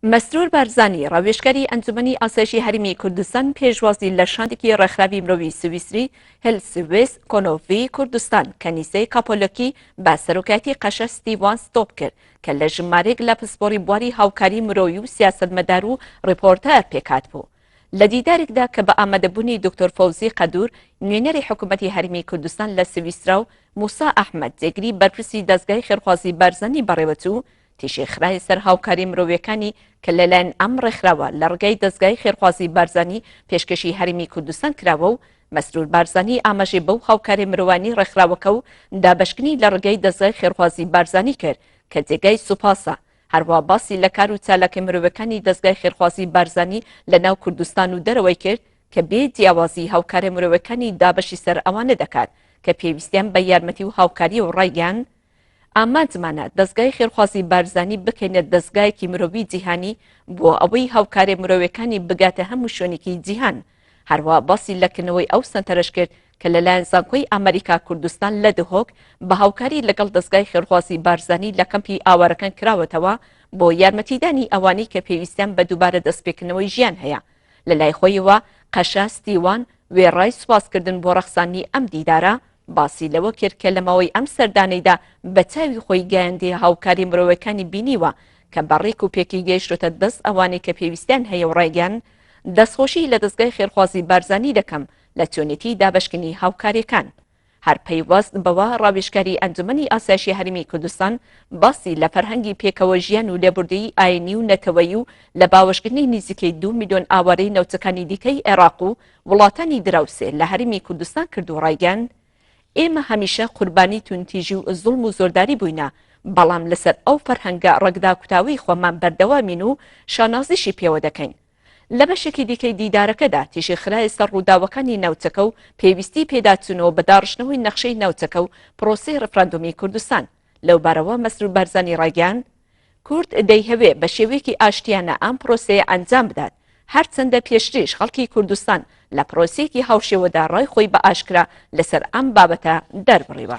مەسرور بارزانی ڕاوێژکاری ئەنجومەنی ئاسایشی هەرمی کوردستان پێشوازی لە شاندێکی ڕێکخراوی مرۆوی سویسری هلسویس کۆنۆڤی کوردستان کەنیسەی کاپۆلۆکی بە سەرۆکایەتی قەشە ستیوان ستۆپ کرد کە لە ژمارێک لە پسپۆری بواری هاوکاری مرۆوی و سیاستمەدار و ڕپۆرتە پێکات بوو. لە دیدارێکدا کە بە ئامادەبوونی دکتۆر فەوزی قەدور نوێنەری حکوومەتی هەرمی کوردستان لە سویسرا و موسا ئەحمەد جێگری بەرپرسی دەزگای خێرخوازی بارزانی بەڕێوەچوو تیشکخرایە سەر هاوکاریە مرۆیەکانی کە لەلایەن ئەم ڕێکخراوە لە ڕگای دەزگای خێرخوازی بارزانی پێشکەشی هەرێمی کوردستان کراوە و مەسرور بارزانی ئاماژەی بەو هاوکاریە مرۆیانەی ڕێکخراوەکە و دابەشکردنی لە ڕگای دەزگای خێرخوازی بارزانی کرد کە جێگای سوپاسە هەروا باسی لە کار و چالاکە مرۆیەکانی دەزگای خێرخوازی بارزانی لە ناو کوردستان و دەرەوەی کرد کە بێ جیاوازی هاوکاریە مرۆیەکانی دابەشی سەر ئەوانە دەکات کە پێویستیان بە یارمەتی و هاوکاریە و ڕایگەیاند ئامانجمانە دەزگای خێرخوازی بارزانی بکەینە دەزگایەکی مرۆیی جیهانی بۆ ئەوەی هاوکارێ مرۆیەکانی بگاتە هەموو شوێنێکی جیهان. هەروا باسی لە کردنەوەی ئەو سەنتەرەش کرد کە لەلایەن زانکۆی ئامریکا کوردستان لە دهۆک بە هاوکاری لەگەڵ دەزگای خێرخوازی بارزانی لە کەمپی ئاوارەکان کراوەتەوە بۆ یارمەتیدانی ئەوانەی کە پێویستیان بە دووبارە دەستپێکردنەوەی ژیان هەیە لەلای خۆیەوە قەشە ستیوان وێڕای سوپاسکردن بۆ ڕەخساندنی ئەم دیدارە باسی لەوە کرد کە لە ماوەی ئەم سەردانەیدا بە چاوی خۆی گایەندی هاوکاری مرۆیەکانی بینیوە کە بە ڕێک و پێکی گەیشتۆتە دەست ئەوانەی کە پێویستیان هەیە و ڕایگەیاند دەستخۆشی لە دەزگای خێرخوازی بارزانی دەکەم لە چۆنێتی دابەشکردنی هاوکاریەکان. هەر پەیوەست بەوە ڕاوێژکاری ئەنجومەنی ئاسایشی هەرێمی کوردستان باسی لە فەرهەنگی پێکەوە ژیان و لێبوردەیی ئاینی و نەتەوەیی و لە باوەشکردنی نیزیکەی دوو ملیۆن ئاوارەی ناوچەکانی دیکەی عێراق و وڵاتانی دراوسێ لە هەرێمی کوردستان کرد و ڕایگەیاند، ئێمە هەمیشە قوربانی توندتیژی و زوڵم و زۆرداری بووینە، بەڵام لەسەر ئەو فەرهەنگە ڕەگداکوتاوەی خۆمان بەردەوامین و شانازیشی پێوە دەکەین. لە بەشێکی دیکەی دیدارەکەدا تیشک خرایە سەر ڕووداوەکانی ناوچەکە و پێویستیی پێداچوونەوە بە داڕشتنەوەی نەخشەی ناوچەکە و پرۆسەی ڕیفراندۆمی کوردستان. لەوبارەوە مەسرور بارزانی ڕایگەیاند، کورد دەیهەوێ بە شێوەیەکی ئاشتیانە ئەم پرۆسەیە ئەنجام بدات، هەرچەندە پێشتریش خەڵکی کوردستان لە پرۆسەیەکی هاوشێوەدا ڕای خۆی بە ئاشکرا لەسەر ئەم بابەتە دەربڕیوە.